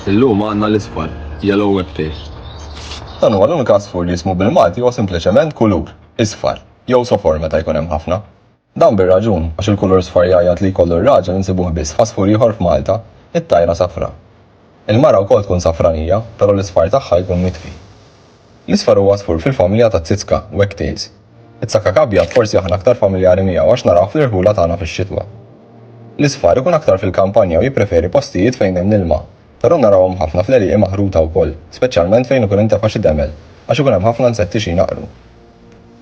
Illum għandna l-isfar, yellow web tail. Dan huwa l-unika għasfur li jismu bil-Malti huwa sempliċement kulur, isfar, jew sofor meta jkun hemm ħafna. Dan bir-raġun, għax il-kulur sfar jgħajjat li jkollu r-raġel insibuh biss f'għasfur ieħor f'Malta, it-tajra safra. Il-mara wkoll tkun safranija, però l-isfar tagħha jkun mitfi. L-isfar huwa għasfur fil-familja taz-zitzka, wagtails. It-sakak abjad forsi aħna aktar familjari miegħu għax narawh fl-irħula tagħna fix-xitwa. L-isfar ikun aktar fil-kampanja u jippreferi postijiet fejn hemm l-ilma, però narawhom ħafna fl-għelieqi maħruta wkoll, speċjalment fejn ikun intefa' xi demel għax ikun hemm ħafna nsetti xi jnaqqru.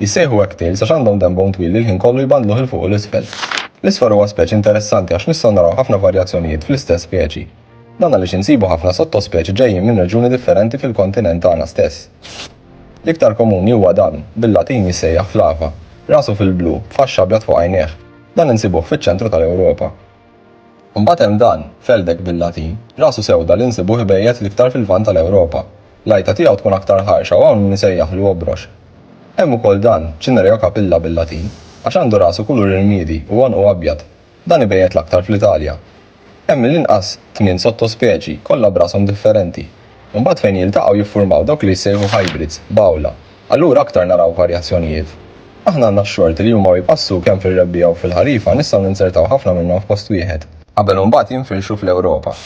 Jissejħu wagtails għax għandhom denbhom twil li l-ħin kollu jbandluh 'il fuq u 'l isfel. L-isfar huwa speċi interessanti għax nistgħu naraw ħafna varjazzjonijiet fl-istess speċi. Dan għaliex insibu ħafna sottospeċi ġejjin minn reġjuni differenti fil-kontinent tagħna stess. L-iktar komuni huwa dan, bil-Latin jissejjaħ flava, rasu fil-blu, b'faxx abjad fuq għajnejh. Dan insibuh fiċ-ċentru tal-Ewropa. Imbagħad hemm dan, feldek bil-Latin, rasu sewda li nsibuh ibejjet l-iktar fil-Lvant tal-Ewropa. L-għajta tiegħu tkun aktar ħarxa u hawn min isejjaħlu obrox. Hemm ukoll dan, Cinerea capilla bil-Latin, għax għandu rasu kulur irmiedi u għonqu abjad. Dan ibejjet l-aktar fl-Italja. Hemm mill-inqas tmien sottospeċi, kollha b'rashom differenti. Imbagħad fejn jiltaqgħu jiffurmaw dawk li jissejħu hybrids, b'għawla. Allura aktar naraw varjazzjonijiet. Aħna għandna x-xorti li huma u jpassu kemm fir-rebbiegħa u fil-ħarifa nistgħu ninzertaw ħafna minnhom f'post wieħed. Qabel u mbagħad jinfirxu fl-Ewropa.